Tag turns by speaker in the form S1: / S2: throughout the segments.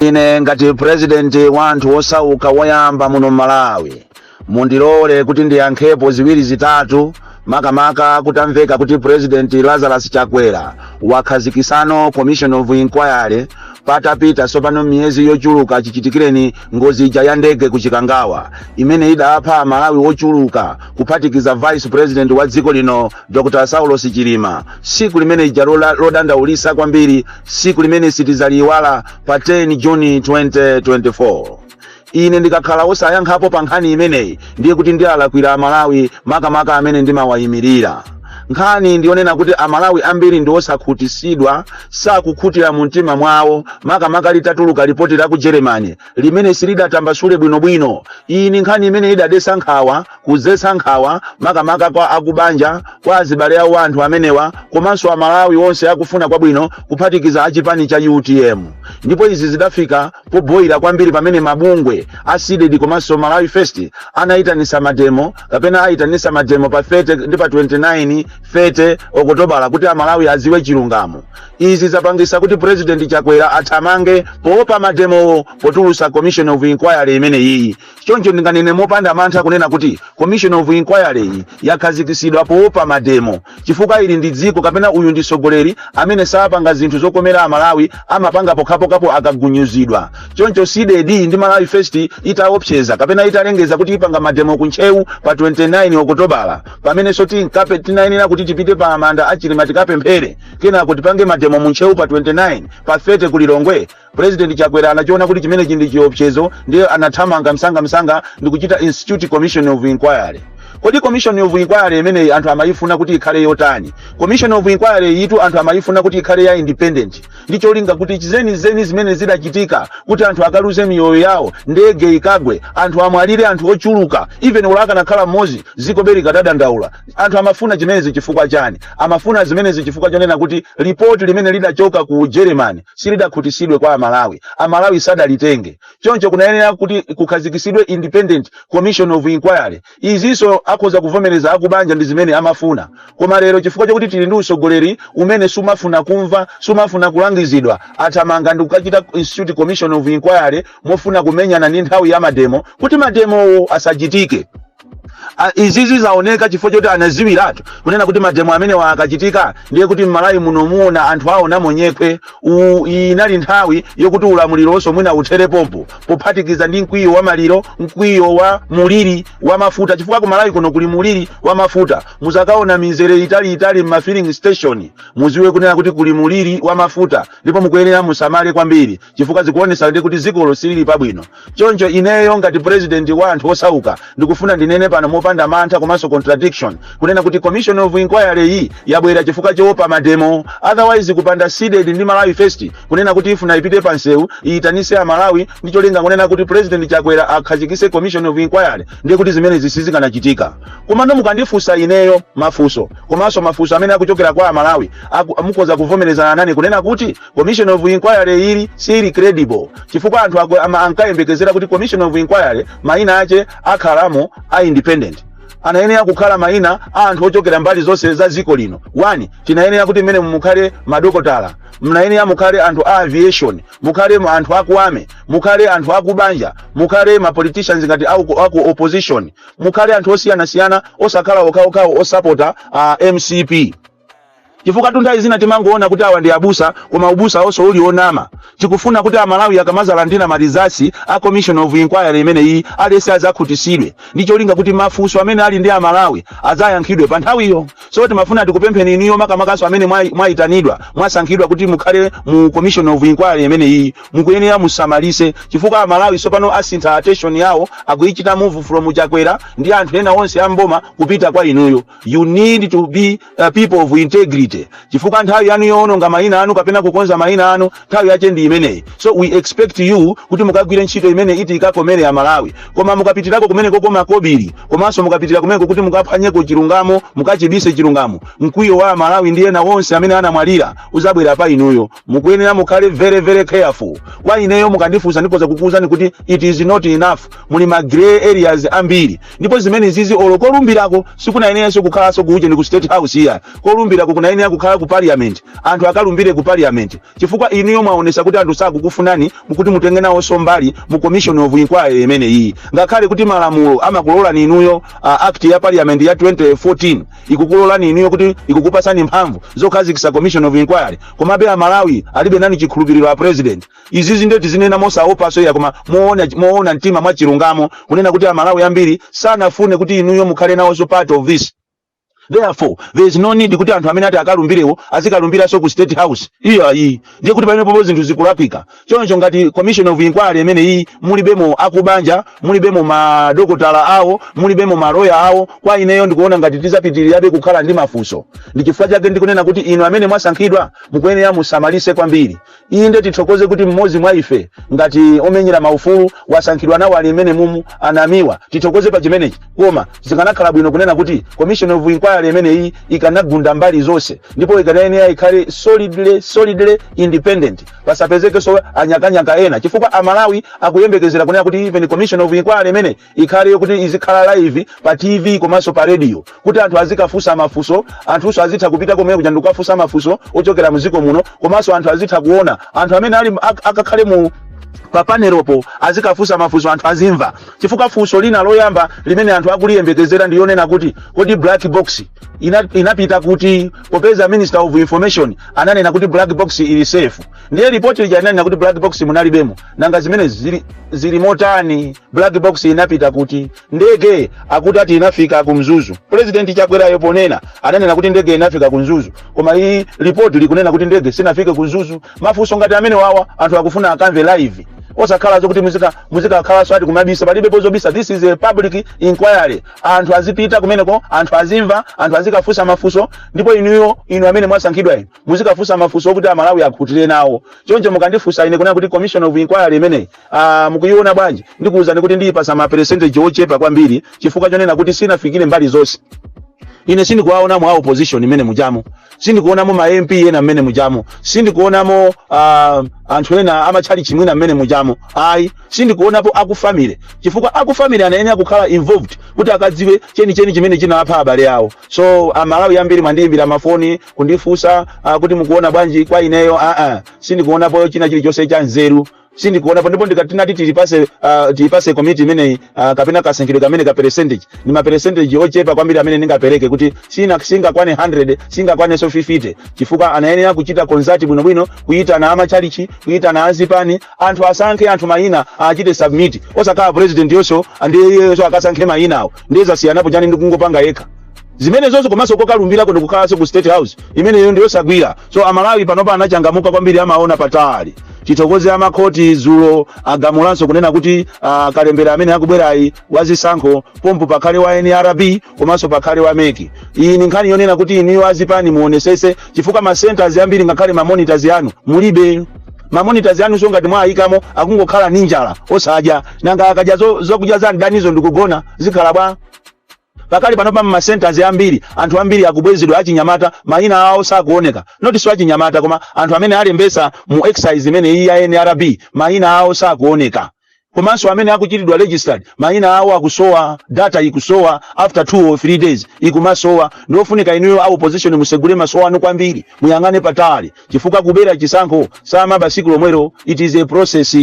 S1: ine ngati purezidenti wa anthu osauka woyamba muno m'malawi mundilole kuti ndiyankhepo ziwiri zitatu makamaka kutamveka kuti purezidenti lazarus chakwera wakhazikisano commission of inquiry patapita tsopano miyezi yochuluka chichitikireni ngozi ija ya ndege ku chikangawa imene idapha amalawi ochuluka kuphatikiza vice president wa dziko lino Dr Saulos Chilima, siku limene ija lola- lodandaulisa kwambiri, siku limene sitizaliiwala pa 10 Juni 2024. Ine ndikakhala osayankhapo pa nkhani imeneyi ndiye kuti ndialakwira Amalawi makamaka amene ndimawayimirira. Nkhani ndiyonena kuti Amalawi ambiri ndi osakhutisidwa, sakukhutira mu mtima mwawo makamaka litatuluka lipoti la ku Germany limene silidatambasule bwinobwino iyi ni nkhani imene idadesa nkhawa kuzesa nkhawa makamaka kwa akubanja kwa azibale awo anthu amenewa komanso amalawi onse akufuna kwabwino kuphatikiza achipani cha utm ndipo izi zidafika poboyira kwambiri pamene mabungwe a cdedi komanso malawi first anayitanisa mademo kapena ayitanisa mademo pa 30 ndi pa 29 30 okotobala kuti amalawi aziwe chilungamo izi zapangisa kuti president chakwera athamange poopa mademowo potulusa commission of inquiry imeneyiyi choncho ndinganene mopanda mantha kunena kuti commission of inquiry iyi yakhazikisidwa poopa mademo chifukwa ili ndi dziko kapena uyu ndi sogoleri amene sapanga zinthu zokomera amalawi amapanga pokhapokhapo akagunyuzidwa choncho cdedi ndi malawi first itaopseza kapena italengeza kuti ipanga mademo ku ntcheu pa 29 okotobala pamenenso tinkape tinayenera kuti tipite pa manda a chilima tikapemphere kenako tipange mademo mu ntcheu pa 29 pa 30 ku lilongwe president chakwera anachiona kuti chimenechi ndi chiopsezo ndiye anathamanga msangamsanga ndi kuchita institute commission of inquiry kodi commission of inquiry imeneyi anthu amayifuna kuti ikhale yotani commission of inquiry yitu anthu amayifuna kuti ikhale ya independent ndi cholinga kuti zenizeni zimene zidachitika kuti anthu akaluze miyoyo yawo ndege ikagwe anthu amwalire anthu ochuluka even olo akanakhala mmodzi ziko be likadadandaula Anthu amafuna zimenezi chifukwa chani? Amafuna zimenezi chifukwa chonena kuti lipoti limene lidachoka ku Germany silidakhutisidwe kwa Amalawi. Amalawi sadalitenge. Choncho kunayenera kuti kukhazikisidwe independent commission of inquiry. Izinso akhoza kuvomereza akubanja ndi zimene amafuna. Koma lero chifukwa chokuti tili ndi usogoleri umene sumafuna kumva, sumafuna kulangizidwa, athamanga ndi kukachita institute commission of inquiry mofuna kumenyana ndi nthawi ya mademo kuti mademowo asachitike. Ah, izizi zaoneka chifukwa choti anaziwiratu kunena kuti mademo amenewa akachitika ndiye kuti mmalawi muno muona anthu aonamo nyekhwe U- inali nthawi yokuti ulamuliro onse mwina uthere pompo pophatikiza ndi mkwiyo wa maliro mkwiyo wa muliri wa mafuta chifukwa ku malawi kuno kuli muliri wa mafuta muzakaona mizere italiitali mma filling station muziwe kunena kuti kuli muliri wa mafuta ndipo mukuyenera musamale kwambiri chifukwa zikuonesa ndi kuti dzikolo silili pabwino choncho ineyo ngati president wa anthu osauka ndikufuna ndinene pano mopanda mantha komanso contradiction kunena kuti commission of inquiry iyi yabwera chifukwa choopa mademo otherwise kupanda cdedi ndi malawi first kunena kuti ifuna ipite pansewu iyitanise amalawi ndi cholinga kunena kuti president chakwera akhazikise commission of inquiry ndiye kuti zimenezi sizikanachitika komano mukandifunsa ineyo mafunso komanso mafunso amene akuchokera kwa amalawi aku- mukhoza kuvomerezana nane kunena kuti commission of inquiry ili siili credible chifukwa anthu ako- ama- ankayembekezera kuti commission of inquiry maina ache akhalamo a independent anayenera kukhala maina a anthu ochokera mbali zonse za dziko lino one tinayenera kuti mmene mukhale madokotala mnayenera mukhale anthu a aviation mukhale mu- anthu aku army mukhale anthu akubanja mukhale ma politicians ngati aku, aku opposition mukhale anthu osiyanasiyana osakhala okhaokhawo osapota mcp chifukwatu nthawi zina timangoona kuti awa ndi abusa koma ubusawonso uli onama tikufuna kuti amalawi akamazalandira ma results a commission of inquiry imeneyi aliyense azakhutisidwe ndi cholinga kuti mafunso amene ali ndi amalawi azayankhidwe pa nthawiyo so timafuna tikupempheni inuyo makamakaso amene mwayi- mwayitanidwa mwasankhidwa kuti mukhale mu commission of inquiry imeneyi mukuyenera musamalise chifukwa amalawi sopano asintha attention yawo akuyichita move from chakwera ndi anthu ena onse amboma kupita kwa inuyo you need to be people of integrity chifukwa nthawi yanu yoononga mayina anu kapena kukonza mayina anu nthawi yache ndi imeneyi so we expect you kuti mukagwire ntchito imene iti ikakomere amalawi koma mukapitirako kumenekoko makobiri komanso mukapitira kumeneko kuti mukaphwanyeko chilungamo mukachibise chilungamo mkwiyo wa amalawi ndi ena onse amene anamwalira uzabwera pa inuyo mukuyenera mukhale very very careful kwa ineyo mukandifunsa ndikhoza kukuwuzani kuti it is not enough muli ma grey areas ambiri ndipo zimenezizi olo kolumbirako sikunayeneranso kukhalanso ku ujeni ku state house iya kolumbirako kunayenera kukhala ku parliament anthu akalumbire ku parliament chifukwa inuyo mwaonesa kuti anthu sakukufunanimo kuti mutenge nawonso mbali mu commission of inquiry imeneyiyi ngakhale kuti malamulo amakulolani inuyo uh, act ya parliament ya 2014 ikukulolani inuyo kuti ikukupasani mphamvu zokhazikisa commission of inquiry komabe amalawi alibe nani chikhulupiriro a president izizi nde tizinena mosaopaso iya koma moona, moona mtima mwachilungamo kunena kuti amalawi ambiri sanafune kuti inuyo mukhale nawoso part of this therefore there is no need kuti anthu amene ati akalumbirewo azikalumbiranso ku state house iyayi ndiye kuti pamenepopo zinthu zikulakwika choncho ngati commission of inquiry imeneyi mulibemo akubanja mulibemo madokotala awo mulibemo maloya awo kwa ineyo ndikuona ngati tizapitirirabe kukhala ndi mafunso ndi chifukwa chake ndikunena kuti inu amene mwasankhidwa mukuyenera musamalise kwambiri inde tithokoze kuti mmodzi mwa ife ngati omenyera maufulu wasankhidwa nawo ali mmenemumu a namiwa tithokoze pa chimenechi koma zikanakhala bwino kunena kuti commission of inquiry imeneyi ikanagunda mbali zonse ndipo ikanayenera ikhale solidly solidly independent pasapezekenso anyakanyaka ena chifukwa amalawi akuyembekezera kunena kuti even commission of inquiry imene ikhale yokuti izikhala live pa tv komanso pa radio kuti anthu azikafunsa mafunso anthunso azitha kupita komwe kuja ndikukafunsa mafunso ochokera mdziko muno komanso anthu azitha kuona anthu amene ali ak- akakhale mu pa panelopo azikafunsa mafunso anthu azimva chifukwa funso lina loyamba limene anthu akuliyembekezera ndiyonena kuti kodi black box ina- inapita kuti popeza minister of information ananena kuti black box ili safe ndiye lipoti lija linanena kuti black box munalibemo nanga zimene zili, zili motani black box inapita kuti ndege akuti ati inafika ku mzuzu president chakwerayo ponena ananena kuti ndege inafika ku mzuzu koma iyi lipoti likunena kuti ndege sinafike ku mzuzu mafunso ngati amene wawa anthu akufuna akamve live osakhala zokuti muzika muzikakhalanso kuti kumabisa palibe pozobisa this is a public inquiry anthu azipita kumeneko anthu azimva anthu azikafunsa mafunso ndipo inuyo inu amene mwasankhidwa inu muzikafunsa mafunso okuti amalawi akhutire nawo choncho mukandifunsa ine kunena kuti commission of inquiry imeneyi ah, mukuyiona bwanji ndikuwuzani kuti ndiyipasa ma percentage ochepa kwambiri chifukwa chonena kuti sinafikire mbali zonse ine sindikuwaonamo a opposition mmene mujamo sindikuonamo ma mp ena mmene mujamo sindikuonamo uh, anthu ena amatchalichi mwina mmene mujamo ayi Sindikuonapo aku family chifukwa aku family anayenera kukhala involved kuti akadziwe chenicheni chimene chinawapha abale awo. So a Malawi ambiri mwandiyimbira mafoni kundifunsa ah, kuti mukuona bwanji kwa ineyo ah, ah. Sindikuonapo china chilichonse cha nzeru sindikuonapo ndipo ndikatinati tilipase uh, tilipase komiti imeneyi uh, kapena kasankhidwe kameneka percentage ni ma percentage ochepa kwambiri amene ndingapereke kuti sina singakwane 100 singakwanenso 50 chifukwa anayenera kuchita consult bwinobwino kuyitana amachalichi kuyitana azipani Anthu asankhe anthu mayina achite submit osakhala president-yonso ndiye iyeyoso akasankhe mayinawo ndiye zasiyanapo chani ndi kungopanga yekha zimene zonse komanso kokalumbirako ndikukhalanso ku state house imeneyo ndiyosagwira so amalawi panopa anachangamuka kwambiri amaona patali tithokoze amakhoti dzulo agamulanso kunena kuti ah, kalembera amene akubwerayi wa zisankho pompo pakhale wa nrb komanso pakhale wa mec iyi ni nkhani yonena kuti inuyo azipani muonesese chifukwa ma centers ambiri ngakhale ma monitors yanu mulibe ma monitors yanu so ngati mwayikamo akungokhala ni njala osadya nanga akadya zo- zokudya za mdanizo ndikugona zikhala bwanji pakali pano pa masenters ambiri anthu ambiri akubwezedwa achinyamata mayina awo sakuoneka not so achinyamata koma anthu amene alembesa mu exercise imene iyi ya nrb mayina awo sakuoneka komanso amene akuchitidwa registered mayina awo akusowa data ikusowa after two or three days ikumasowa ndiofunika inuyo a opposition musegule maso anu kwambiri muyang'ane patali chifukwa kubera chisankho samaba siku lomwero it is a process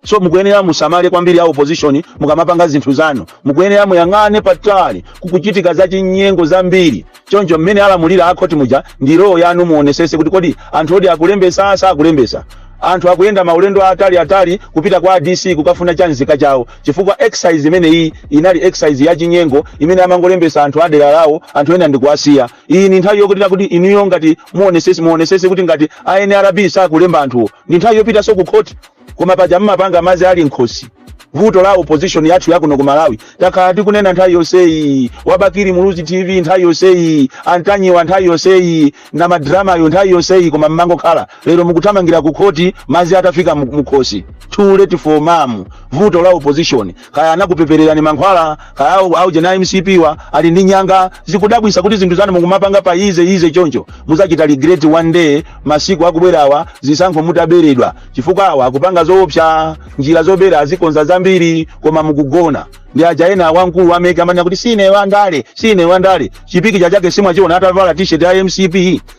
S1: so mukuyenera musamale kwambiri a opposition mukamapanga zinthu zanu mukuyenera muyang'ane patali kukuchitika zachinyengo zambiri choncho mmene alamulira akhoti muja ndi role yanu muonesese kuti kodi anthu kodi akulembesa sakulembesa anthu akuyenda maulendo atali atali kupita kwa dc kukafuna cha nzika chawo chifukwa exercise imene iyi inali exercise ya chinyengo imene amangolembesa anthu adera lawo anthu ena ndikuwasiya iyi ni nthawi yokuti kuti inuyo ngati muonesese kuti ngati a nrb sakulemba anthuwo ndi nthawi yopitaso ku khoti Koma paja mmapanga madzi ali mkhosi. Vuto la opposition yathu yakuno ku Malawi. Takhala tikunena nthawi yonseyi. Wa Bakili Muluzi TV nthawi yonseyi. A Ntanyiwa nthawi yonseyi. Na madramayo nthawi yonseyi koma mmangokhala. Lero mukuthamangira ku khoti madzi atafika mu- mukhosi. Too late for mamu. Vuto la opposition. kaya anakupepererani mankhwala kaya au- auje na mcpwa ali ndi nyanga zikudabwisa kuti zinthu zanu mukumapanga pa easy easy choncho muzachita regret one day masiku akubwerawa zisankho mutaberedwa chifukwa awa akupanga zoopsa njira zobera azikonza zambiri koma mukugona ndi aja ena wamkulu wameke amanena kuti sine wandale sine wandale chi picture chake simwachiona atavala t-shirt ya mcp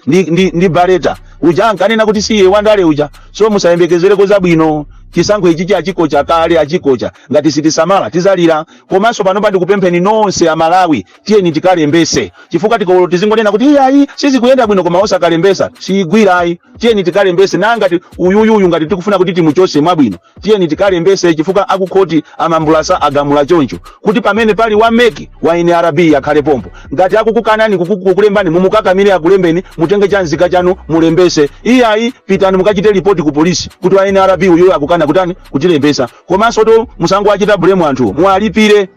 S1: ndi, ndi, ndi bareta uja ankanena kuti si ye wandale uja so musayembekezereko zabwino chisankho ichichi achikocha kale achikocha ngati sitisamala tizalira komanso panopa ndikupempheni nonse amalawi tiyeni tikalembese chifukwa tikati tizingonena kuti iyayi sizikuyenda bwino koma osakalembesa siyigwira ayi tiyeni tikalembese na ngati uyuyuyu ngati tikufuna kuti timuchose mwabwino tiyeni tikalembese chifukwa akukhoti a Mambulasa agamula choncho kuti pamene pali wa mec wa nrb akhale pompo ngati akukukanani kuku- kukulembani mumukakamire akulembeni mutenge cha nzika chanu mulembese iyayi pitani mukachite lipoti ku polisi kuti wa nrb uyo akukana kutani kutilembesa komanso to musangowachita blame anthu muwalipire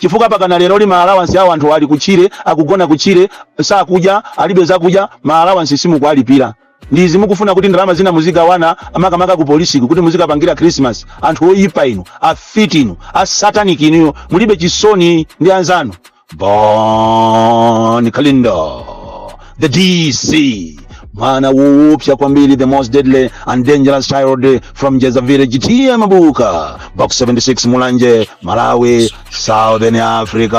S1: chifukwa pakana leroli maalawansi awo anthu ali kutchire akugona kutchire sakudya alibe zakudya maalawansi simukualipira Ndi izi mukufuna kuti ndalama zina muzigawana makamaka ku polisiku kuti muzikapangira Christmas. Anthu oyipa inu, afiti inu, a satanic inuyo mulibe chisoni ndi anzanu. Bon Kalindo, the DC, mwana woopsa kwambiri, the most deadly and dangerous child from Njeza village, TA Mabuka, box 76 Mulanje, Malawi, Southern Africa.